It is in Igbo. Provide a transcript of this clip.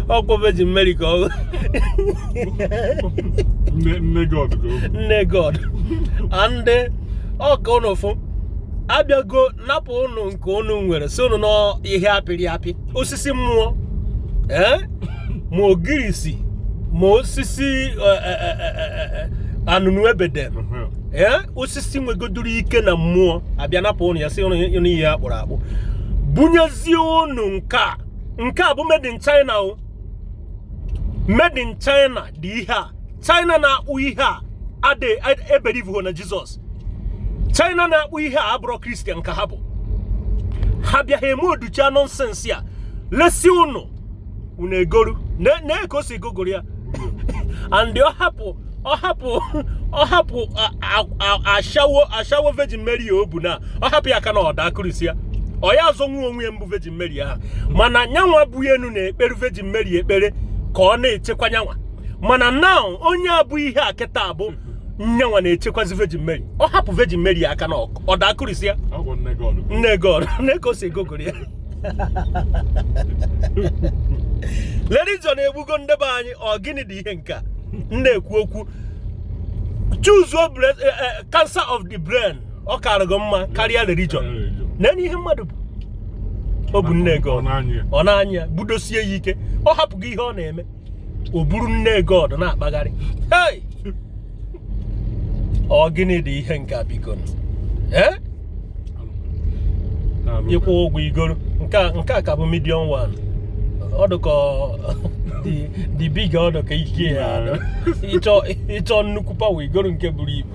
ọkwa Virgin Mary ka ọ nne nne god ka o nne god and ọkwa ụnụ fụ a bịago napụ ụnụ nke ụnụ nwere sị ụnụ na ọ ihe a pịrị apị osisi mmụọ ee ma ogirisi ma osisi eh, eh, eh, eh, eh, anụnụ ebe dem Ehe. ee osisi nwegodoro ike na mmụọ a bịa napụ ụnụ ya sị ụnụ na ihe a kpụrụ akpụ bunyezie ụnụ nke a nke a bụ made in China ọ made in China dị ihe a China na-akpụ ihe a adị ebelieve na Jizọs China na-akpụ ihe a abụrọ Kristian ka ha bụ ha bịa ha emouldchaa nonsense a lesị unu unu egoru nee ka o si gogoro ya and ọ hapụ ọ hapụ ọ hapụ ashawo ashawo virgin mary ya o bu na ọ hapụ ya aka na ọ daa kụrisịa ọ ya-azọnwu onwe ya bụ virgin Mary ahụ mana nyanwa bu enu na-ekpere Virgin Mary ekpere ka ọ na-echekwa nyanwa mana na onye a bu ihe a kịta bụ nyanwa na-echekwazi Virgin Mary ọ hapụ Virgin Mary aka na ọ daa kụrisịa Ọ bụ nne God. nne god nee ka o si egogoro ya religion egbugo ndị be anyị ọ gịnị dị ihe nke a m na-ekwu okwu choose your breath, eh, eh, cancer of the brain ọ karịgo mma karịa religion nee ihe mmadụ bu o bu nne god ọ na-anyị ya budosie ya ike ọ hapụgo ihe ọ na-eme o buru nne god na-akpagharị ọ gịnị dị ihe nke a biko eh? ị kwụọ ụgwọ i goro nke a ka bụ medium one ọ dụkọ dị big ọ dụ ka ike ya ị chọọ nnukwu power i goro nke buru ibu